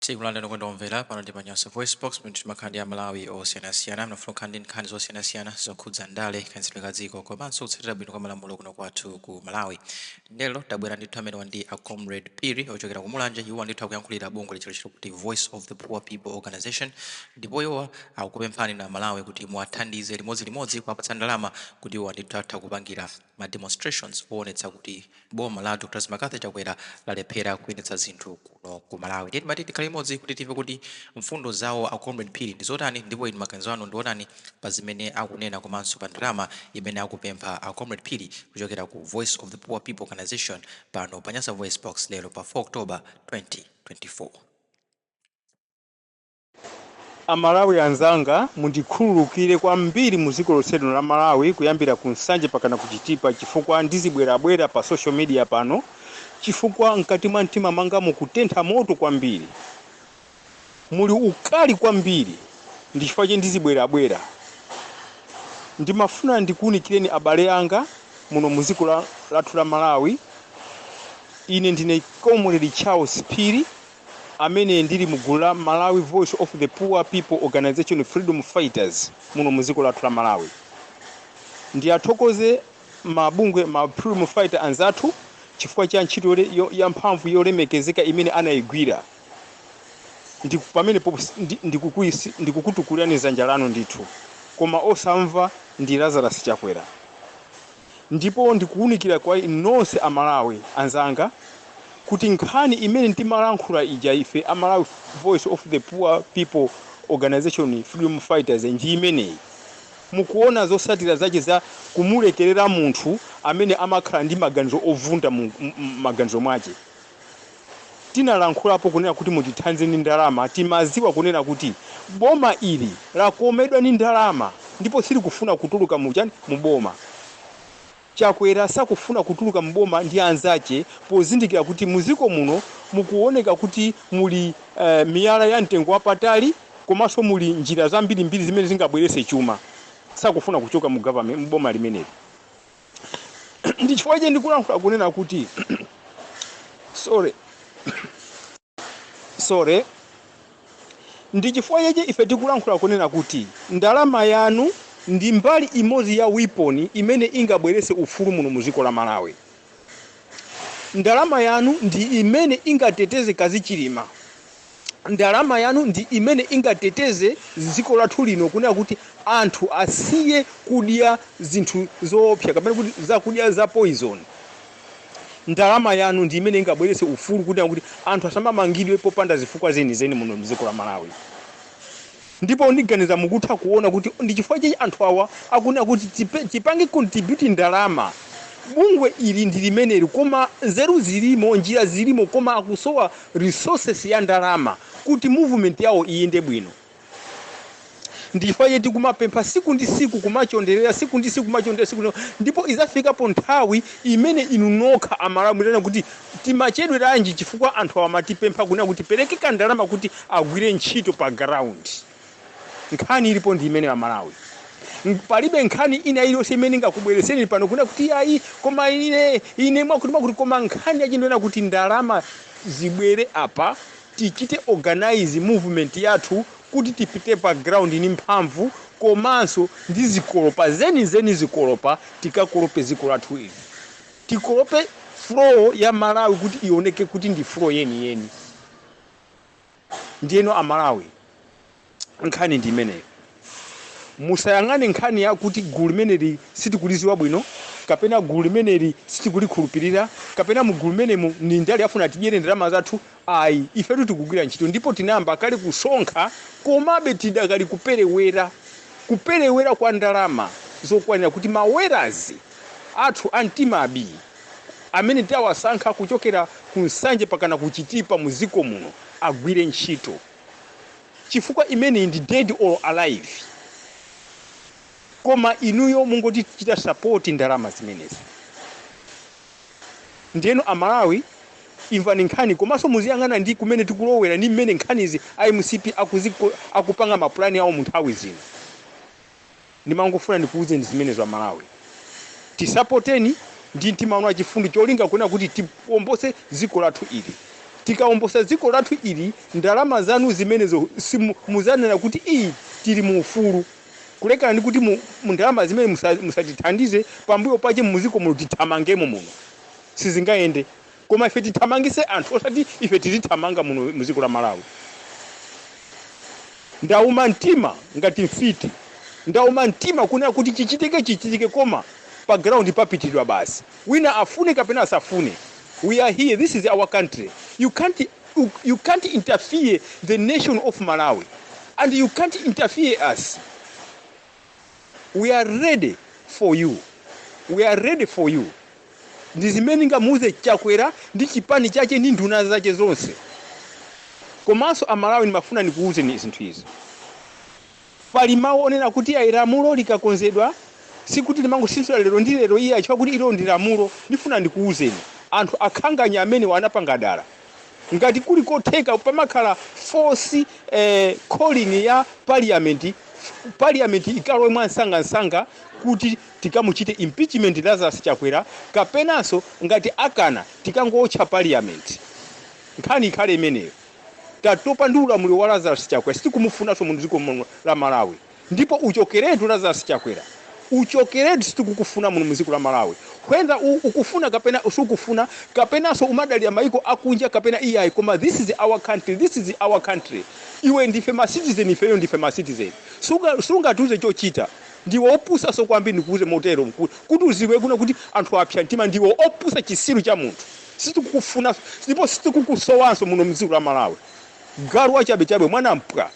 Tikulandirani okondedwa omvera pano ndi pa Nyasa VoiceBox pomwe timakhala ndi Amalawi osiyanasiyana ofuna kukhala ndi nkhani zosiyanasiyana zokhudza ndale, kayendetsedwe ka dziko komanso kutsatira bwino kwa malamulo kuno kwathu ku Malawi. Lero tabwera ndithu amenewa ndi a Comrade Phiri ochokera ku Mulanje. Iwo ndithu akuyankhulira bungwe lotchedwa kuti Voice of the Poor People Organization ndipo iwowa akupemphani Amalawi kuti muwathandize limodzilimodzi kuwapatsa ndalama kuti iwowa ndithu atha kupangira ma demonstrations owonetsa kuti boma la Dr McCarthy Chakwera lalephera kuyendetsa zinthu kuno ku Malawi ndiye timati tikhale limodzi kuti timve kuti mfundo zawo a Comrade Phiri ndi zotani ndipo inu maganizo anu ndiotani pa zimene akunena komanso pa ndalama imene akupempha a Comrade Phiri kuchokera ku Voice of the Poor People Organisation pano pa Nyasa VoiceBox lero pa 4 October 2024. Amalawi anzanga mundikhululukire kwambiri mu dziko lonselino la Malawi kuyambira ku Nsanje pakana ku Chitipa chifukwa ndizibwerabwera pa social media pano chifukwa mkati mwa mtima mwanga mukutentha moto kwambiri muli ukali kwambiri ndi chifukwa chake ndizibwerabwera ndimafuna ndikuunikireni abale anga muno mu dziko lathu la Malawi ine ndine Comrade Charles Phiri amene ndili mu gulu la Malawi Voice of the Poor People Organisation, Freedom Fighters, muno mu dziko lathu la Malawi. Ndiathokoze ma bungwe, ma freedom fighter anzathu chifukwa cha ntchito ya mphamvu yolemekezeka imene anayigwira. Pamene ndikukutukulirani dzanja lanu ndithu, koma osamva ndi Lazarus Chakwera. ndipo ndikuunikira kwa inu nonse a Malawi anzanga kuti nkhani imene timalankhula ija ife a Malawi Voice of the Poor People Organisation Freedom Fighters ndi imeneyi. Mukuona zotsatira zache za kumulekerera munthu amene amakhala ndi maganizo ovunda mu maganizo mwache. tinalankhulapo kunena kuti mutithandize ndi ndalama timaziwa kunena kuti boma ili lakomedwa ndi ndalama ndipo silikufuna kutuluka mu chani mu boma chakwera sakufuna kutuluka mu boma ndi anzache pozindikira kuti muziko muno mukuoneka kuti muli eh, miyala ya mtengo wapatali komanso muli njira zambirimbiri zimene zingabwerese chuma sakufuna kuchoka mu government mu boma limeneli ndi chifukwa chake ndikulankhula kunena kuti sorry sorry ndi chifukwa chake ife tikulankhula kunena kuti ndalama yanu ndi mbali imodzi ya weapon imene ingabweretse ufulu muno mu dziko la malawi ndalama yanu ndi imene ingateteze mkazi wa Chilima ndalama yanu ndi imene ingateteze dziko lathu lino kunena kuti anthu asiye kudya zinthu zoopsa kapena kuti zakudya za poison ndalama yanu ndi imene ingabweretse ufulu kunena kuti anthu asamamangidwe popanda zifukwa zenizeni muno mdziko la malawi Ndipo ndiganiza mukutha kuona kuti ndi chifukwa chake anthu awa akunena kuti tipange contribute ndalama bungwe ili ndi limeneli koma nzeru zilimo, njira zilimo koma akusowa resources ya ndalama kuti movement yawo iyende bwino. Ndi chifukwa chake tikumapempha siku ndi siku kumachonderera siku ndi siku kumachonderera ndipo izafikapo nthawi imene inu nokha amalawi mutanena kuti Timachedweranji chifukwa anthu awa amatipempha kunena kuti tipereke ka ndalama kuti agwire ntchito pa ground. Nkhani ilipo ndi imeneyo a Malawi. Palibe nkhani ina iliyonse imene ingakubwereseni pano kunena kuti yayi koma ine ine mwakuti mwakuti koma nkhani ndi yonena kuti ndalama zibwere apa tichite organize movement yathu kuti tipite pa ground ni mphamvu komanso ndi zikolopa zeni zeni zikolopa tikakolope dziko lathu ili. tikolope floor ya malawi kuti ioneke kuti ndi floor yeni yeni ndiyeno amalawi nkhani ndi imeneyo musayang'ane nkhani yakuti gulu limeneli sitikuliziwa bwino kapena gulu limeneli sitikulikhulupirira kapena mu gulu limenemu ni ndale afuna atidyere ndalama zathu Ayi, ifetu tikugwira ntchito ndipo tinayamba kale kusonkha komabe tidakali kuperewera kuperewera kwa ndalama zokwanira kuti ma warriors athu a mtima bii amene tawasankha kuchokera ku Nsanje pakana ku Chitipa mu dziko muno agwire ntchito chifukwa imeneyi ndi dead or alive koma inuyo mungotichita support ndalama zimenezi. Ndiyeno a Malawi imvani nkhani komanso muziyang'ana ndi kumene tikulowera ndi mmene nkhanizi a MCP akupanga ma plan awo mu nthawi zino. Ndimangofuna ndikuuzeni zimenezo a Malawi. Tisapoteni ndi mtima wanu wachifundo cholinga kunena kuti tiwombose dziko lathu ili. Tikawombosa dziko lathu ili ndalama zanu zimenezo muzanena kuti ii tili mu ufulu. Kulekana ndi kuti mu ndalama zimene musatithandize pambuyo pache muziko muno tithamangemo muno. Sizingayende. Koma ife tithamangise anthu osati ife tizithamanga muno muziko la Malawi. Ndauma mtima ngati mfiti. Ndauma mtima kunena kuti chichitike chichitike koma pa ground papitidwa basi. Wina afune kapena asafune. We are here. This is our country. You can't you can't interfere the nation of malawi and you can't interfere us we are ready for you we are ready for you ndi zimene ndingamuuze chakwera ndi chipani chache ndi nduna zache zonse komanso amalawi ndimafuna ndikuuzeni zinthu izi Pali mau onena kuti ayi lamulo likakonzedwa sikuti limangosinthidwa lero ndi lero iyayi chifukwa kuti ilo ndi lamulo. Ndifuna ndikuuzeni anthu akhanganya amenewa anapanga dala. Ngati kuli kotheka pamakhala force calling ya parliament, parliament ikalowe mwamsangamsanga kuti tikamuchite impeachment Lazarus Chakwera kapenanso ngati akana tikangootcha parliament. Nkhani ikhale imeneyo. Tatopa ndi ulamuliro wa Lazarus Chakwera sitikumunfunanso mu dziko muno la Malawi ndipo uchokeretu Lazarus Chakwera uchokeretu sitikukufuna muno mu dziko la Malawi whether u ukufuna kapena sukufuna kapenanso umadalira maiko akunja kapena iyayi koma this is our country this is our country iwe ndife ma citizen ifeyo ndife ma citizen sunga sungatiuze chochita ndiwe opusanso kwambiri ndikuuze motero kuti uziwe kunena kuti anthu apsa mtima ndiwe opusa chisiru cha munthu. Sitikukufuna ndipo sitikukusowanso muno mdziko la Malawi. Galu wachabe chabe mwana mpwa.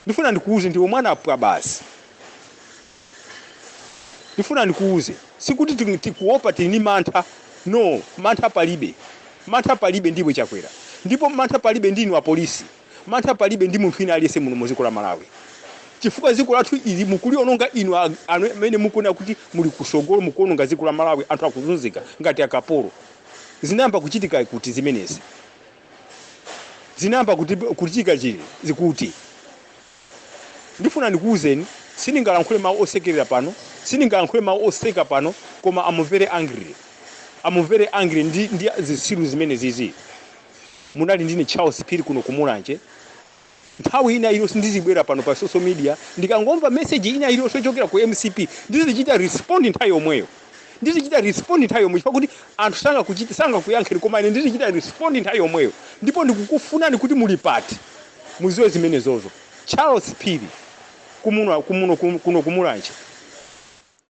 Ndifuna ndikuuze ndiwe mwana mpwa basi. Ndifuna ndikuuze sikuti ti- tikuopa tili ndi mantha. No, mantha palibe. Mantha palibe ndiwe Chakwera. Ndipo mantha palibe ndinu apolisi. Mantha palibe ndi munthu wina aliyense muno mu dziko la Malawi chifukwa dziko lathu ili mukuliononga inu amene mukunena kuti muli kusogolo mukuononga dziko la Malawi anthu akuzunzika ngati akapolo zinayamba kuchitika kuti zimenezi zinayamba kuti kuchitika chili zikuti Ndifuna ndikuuzeni, sindingalankhule mawu osekerera pano, sindingalankhule mawu oseka pano, koma am very angry, am very angry ndi ndi zitsiru zimenezizi. Munali ndine Charles Phiri kuno ku Mulanje, nthawi ina iliyonse ndizibwera pano pa social media, ndikangomva message ina iliyonse yochokera ku mcp ndizichita respond nthawi yomweyo. Ndizichita respond nthawi yomweyo chifukwa kuti anthu sangakuchiti sangakuyankheni koma ine ndizichita respond nthawi yomweyo ndipo ndikukufunani kuti muli pati muziwe zimenezozo. Charles Phiri kuno ku Mulanje.